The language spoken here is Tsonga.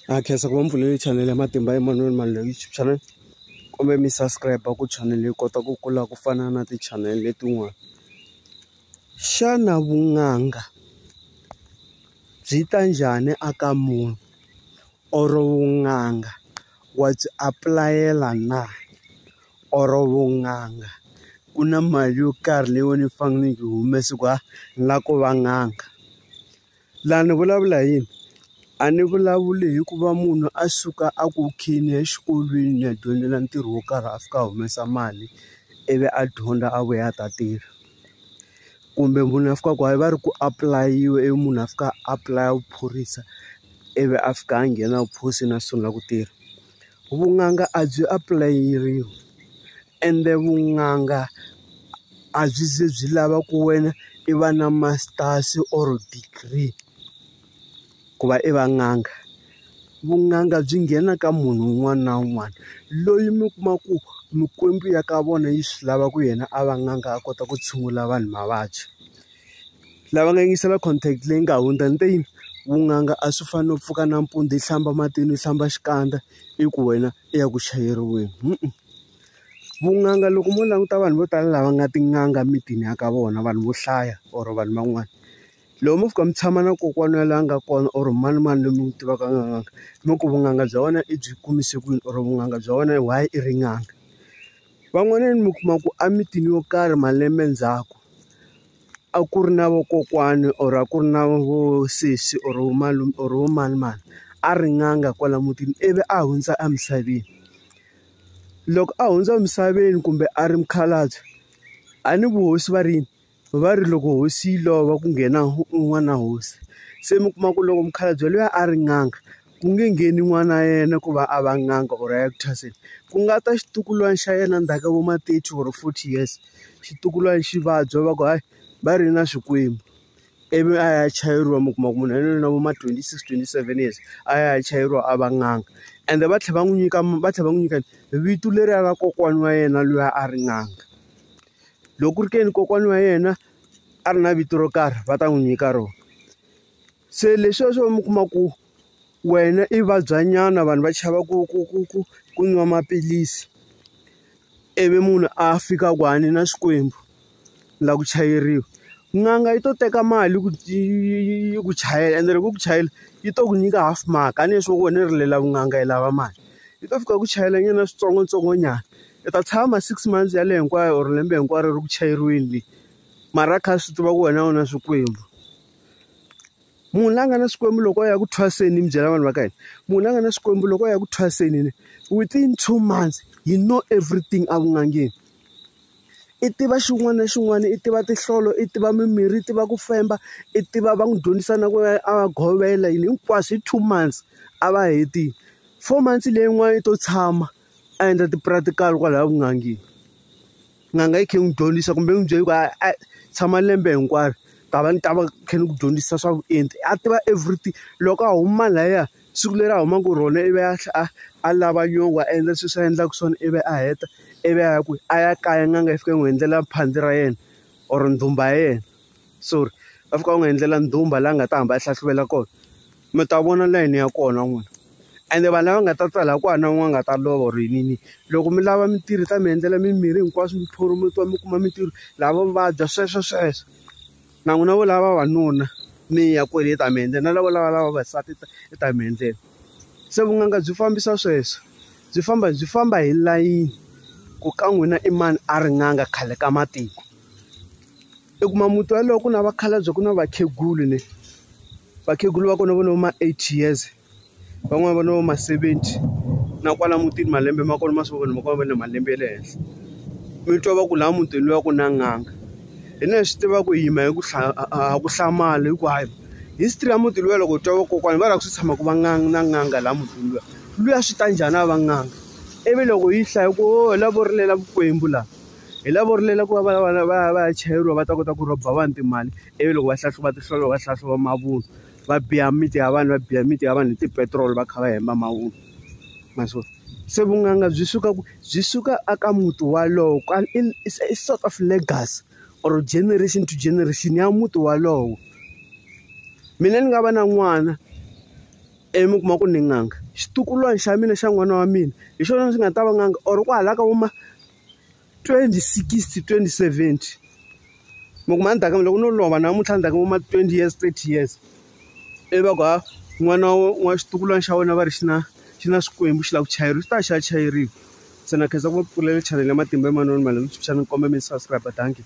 ha khensa ku va mi pfulele chanele ya matimba emmanuel mani leyi youtube channel kumbe mi subscribe ku chanele yi kota ku kula ku fana na ti-channel letin'wana xana vun'anga byi ta njhani aka munhu or vun'anga wa byi apulayela na or vun'anga ku na mali yo karhi leyi wena yi fanele yi humese ku ha ni lava ku va n'anga. Laha ni vulavula hi yini? A ni vulavuli hi ku va munhu a suka a ku khini ya exikolweni ni ya dyondzela ntirho wo karhi a fika a humesa mali, ivi a dyondza a vuya a ta tirha. Kumbe munhu a fikaka a va ri ku apulayiwe ivi munhu a fika a apulaya vuphorisa, ivi a fika a nghena vuphosini a sungula ku tirha. vun'anga a byi apulayeriwi ende vun'anga a byi ze byi lava ku wena i va na masters or degree ku va i va n'anga vun'anga byi nghena ka munhu un'wana na un'wana loyi mi kuma ku mikwembu ya ka vona yi swi lava ku yena a va n'anga a kota ku tshungula vanhu mavabyi. lava nga yingisela contact leyi nga hundza ni te yini vunanga a swi fani no pfuka nampundzu yi hlamba matini yi hlamba xikandza i ku wena i ya ku chayeriweni vunanga loko mo languta vanhu vo tala lava nga tin'anga mitini ya ka vona vanhu vo hlaya or vanhu van'wana loko mo fika mi tshama na kokwana ya laha nga kona or mani mani loyi mi n'wi tivaka a nga n'anga mi ku vunanga bya wena i byi kumise kwini or vunanga bya wena why i ri n'anga Van'wanyana mi kuma ku emitini yo karhi malembe ndzhaku, a ku ri na vakokwani or a ku ri na vo sesi or vo malume or vo manimani, a ri n'anga kwala mutini ivi a hundza emisaveni. Loko a hundza emisaveni kumbe a ri mukhalabye, a ni vuhosi va ri yini? Va ri loko hosi yi lova ku nghena n'wana hosi se mi kuma ku loko mukhalabye luya a ri n'anga ku nge ngheni n'wana yena ku va a va n'anga or a ya ku thwaseke ku nga ta xitukulwana xa yena ndzhaku ka vo ma thirty or forty years xitukulwana xi vabya va ku hayi va ri na swikwembu ivi a ya chayeriwa mi kuma ku munhu yaloye na vo ma twenty six twenty seven years a ya a ya chayeriwa a va n'anga ende va tlhela va n'wi nyika va tlhela va n'wi nyika vito leriya ra kokwana wa yena luya a ri n'anga. Loko ku ri ke ni kokwana wa yena a ri na vito ro karhi va ta n'wi nyika rona. Se leswiya swo mi kuma ku wena i vabyanyana vanhu va chava ku ku ku ku ku nwa maphilisi, ivi munhu a fika ku a ni na xikwembu, ni lava ku chayeriwa. N'anga yi to teka mali ku yi yi yi yi ku chayela ende loko yi ku chayela, yi to ku nyika half mark a ni nge swi vona yi ri leyi ya vun'anga yi lava mali. Yi to fika yi ku chayelanyana switsongoswitsongonyana i ta tshama six months ya le hinkwayo or lembe hinkwaro ri ku chayeriweni leyi mara kha swi tiva ku wena u na swikwembu munhu la nga na swikwembu loko a ya ku thwaseni mi byela vanhu va ka hina munhu la nga na swikwembu loko a ya ku thwaseni ni within two months you know everything a ku ngangeni i tiva xin'wana na xin'wana i tiva tihlolo i tiva mimirhi i tiva ku femba i tiva va n'wi dyondzisa na ku a va govela yini hinkwaswo hi two months a va hetile four months leyin'wana i to tshama a endla ti-practical kwalaya vun'angeni n'anga yi khe n'wi dyondzisa kumbe n'wi byeli ku a tshama lembe hinkwaro ta va ni ta va khe ni ku dyondzisa swa vuenti a tiva everything loko a huma lahaya siku leri a humaka hi rona ivi a tlhela a a lava nyongo a endla sweswi a endlaka swona ivi a heta ivi a ya kwihi a ya kaya n'anga yi fika yi n'wi endlela phandzi ra yena or ndhumba ya yena sorry va fika va n'wi endlela ndhumba laha nga ta hamba a hlahluvela kona mi ta vona layini ya kona n'wina ende vanhu lava nga ta tsala ku hana un'wana nga ta lova or yinini loko mi lava mitirhi ta mi endlela mimirhi hinkwaswo mi phurometiwa mi kuma mitirho lava vabya sweswo sweswo na n'wina vo lava vavanuna mi ya kwele yi ta mi endlela na lavo lava lava vasati yi ta mi endlela se vun'anga byi fambisa sweswo byi famba byi famba hi layini ku ka n'wina i mani a ri n'anga khale ka matiko. I kuma muti walowo ku na vakhalabye ku na vakhegulu ne vakhegula va kona va no ma eighty years van'wani va no ma seventy na kwala mutini malembe ma kona ma swi vona ma kona va na malembe ya le henhla mi twa va ku laha mutini luya ku na n'anga hi na hi swi tiva ku hi yima hi ku a ku hlamali hi ku hayi history ya muti luya loko hi twa vakokwana va la ku swi tshama ku va nga na n'anga laha mutini luya luya swi ta njhani a va n'anga ivi loko yi hlaya ku o la vo rilela vukwembu laha. hi lavo rilela ku va va va va va ya chayeriwa va ta kota ku rhoba vanhu timali ivi loko va hlahluva tihlolo va hlahluva mavunwa va biya miti ya vanhu va biya miti ya vanhu hi tipetiroli va kha va hemba mavunwa maswo se vun'anga byi suka ku byi suka aka muti walowo kwal i sort of legacy or generation to generation ya muti walowo mina ni nga va na n'wana ivi mi kuma ku ni n'anga xitukulwana xa mina xa n'wana wa mina hi xona xi nga ta va n'anga or kwahala ka vuma 2060 2070 loko ma ndaka loko no lova namuntlha ndaka vo ma 20 years 30 years ivi va ku ha n'wana wa xitukulwana xa wena va ri xi na xi na swikwembu xi lava ku chayeriwa xi ta xi ya chayeriwa se na khensa ku va pfulela chanele ya matimba emanoni malembe sweswinyana ni komba mi subscribe dankie.